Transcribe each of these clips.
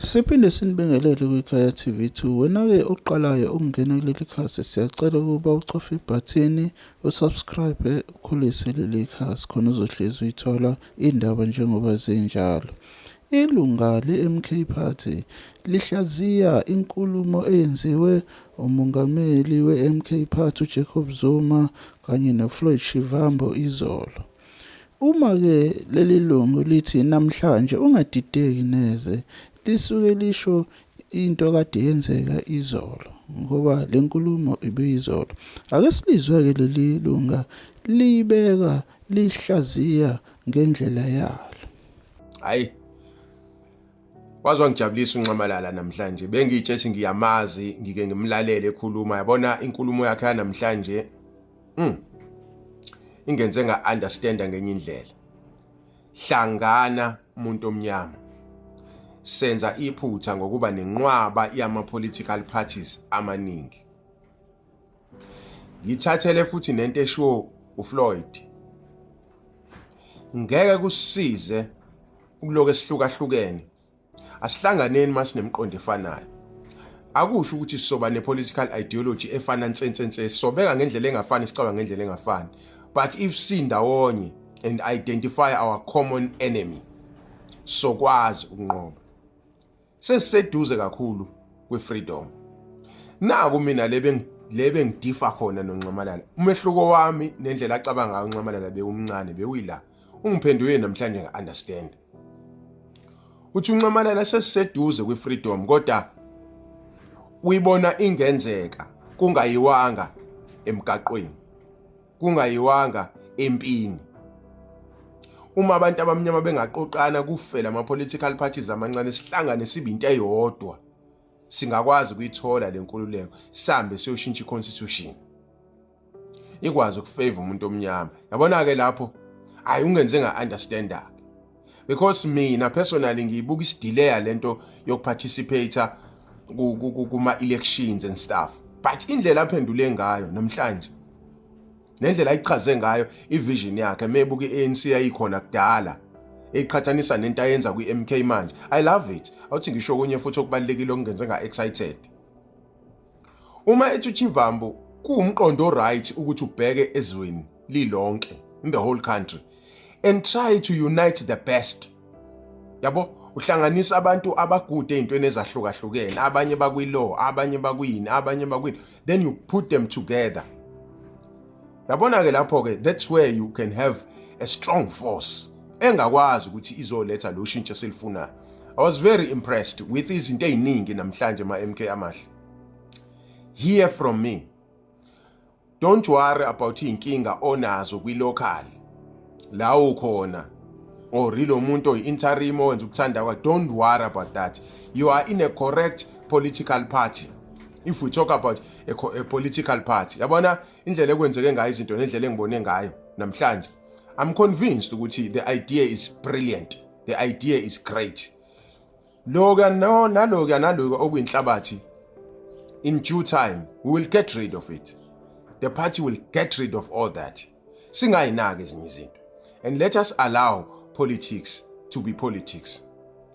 Siphinde sinibingelele kwikhaya TV2. Wena-ke oqalayo ukungena kuleli khasi siyacela ukuba ucofe ibhathini usubscribe ukhulise leli khasi khona uzohlezi uyithola indaba njengoba zinjalo. Ilunga le-MK Party lihlaziya inkulumo eyenziwe umongameli we-MK Party uJacob Zuma kanye noFloyd Shivambu izolo. Uma ke leli lungu lithi namhlanje ungadideki neze lisuke lisho into kade yenzeka izolo ngoba lenkulumo ibiyizolo. Ake silizwe ke leli lunga liyibeka liyihlaziya ngendlela yalo. Hayi Waze wangijabulisa uNxamalala namhlanje. Bengitshe ethi ngiyamazi, ngike ngimlalele ekhuluma. Yabona inkulumo yakhe yanamhlanje mm. ingenze nga understand ngenye indlela hlangana umuntu omnyama senza iphutha ngokuba nenqwaba yama political parties amaningi ngithathele futhi nento eshiwo uFloyd ngeke kusize ukuloke sihlukahlukene asihlanganeni masinemiqondo efanayo akusho ukuthi sisoba ne-political ideology efana nsensense sisobeka ngendlela engafani sicaba ngendlela engafani but if sindawonye and identify our common enemy sokwazi ukunqoba sesiseduze kakhulu kwi-freedom naku mina le bengidifa khona nonxamalala umehluko wami nendlela acabanga ngayo unxamalala bewumncane bewuyila ungiphenduke namhlanje ngi-understand uthi unxamalala sesiseduze kwi-freedom kodwa uyibona ingenzeka kungayiwanga emgaqweni kungayiwanga empini uma abantu abamnyama bengaqoqana kufela ama-political parties amancane sihlangane sibe into eyodwa singakwazi ukuyithola le nkululeko sihambe siyoshintsha i-constitution ikwazi ukufavor umuntu omnyama yabona ke lapho hayi ungenze nga understand ke because mina personally ngiyibuka isidileya lento yokuparticipate kuma elections and stuff but indlela aphendule ngayo namhlanje nendlela ayichaze ngayo ivision yakhe mebuka iANC yayikhona kudala eqhathanisa nento ayenza kwiMK manje i love it awuthi ngisho kunye futhi okubalekile okungenze nga excited Uma ethi uChivambo kuwumqondo right ukuthi ubheke ezweni lilonke in the whole country and try to unite the best. Yabo uhlanganisa abantu abagude ezintweni ezahlukahlukene, abanye bakwi-law, abanye bakwini, abanye bakwini, then you put them together. yabona ke lapho ke that's where you can have a strong force engakwazi ukuthi izoletha lo shintsho selifunayo i was very impressed with izinto eziningi namhlanje ma MK amahle hear from me don't worry about inkinga onazo kwi local la ukhona or lo muntu oyi interim owenza ukuthanda kwa don't worry about that you are in a correct political party if we talk about a, a political party yabona indlela ekwenzeke ngayo izinto nendlela engibone ngayo namhlanje i'm convinced ukuthi the idea is brilliant the idea is great loka no naloka naloka okuyinhlabathi in due time we will get rid of it the party will get rid of all that singayinaki ezinye izinto and let us allow politics to be politics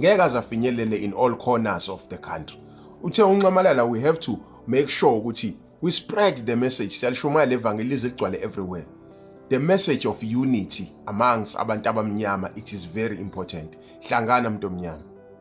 ngeke aze afinyelele in all corners of the country uthe unxamalala we have to make sure ukuthi we spread the message siyalishumayela le vangeli lize ligcwale everywhere the message of unity amongst abantu abamnyama it is very important hlangana mntu omnyama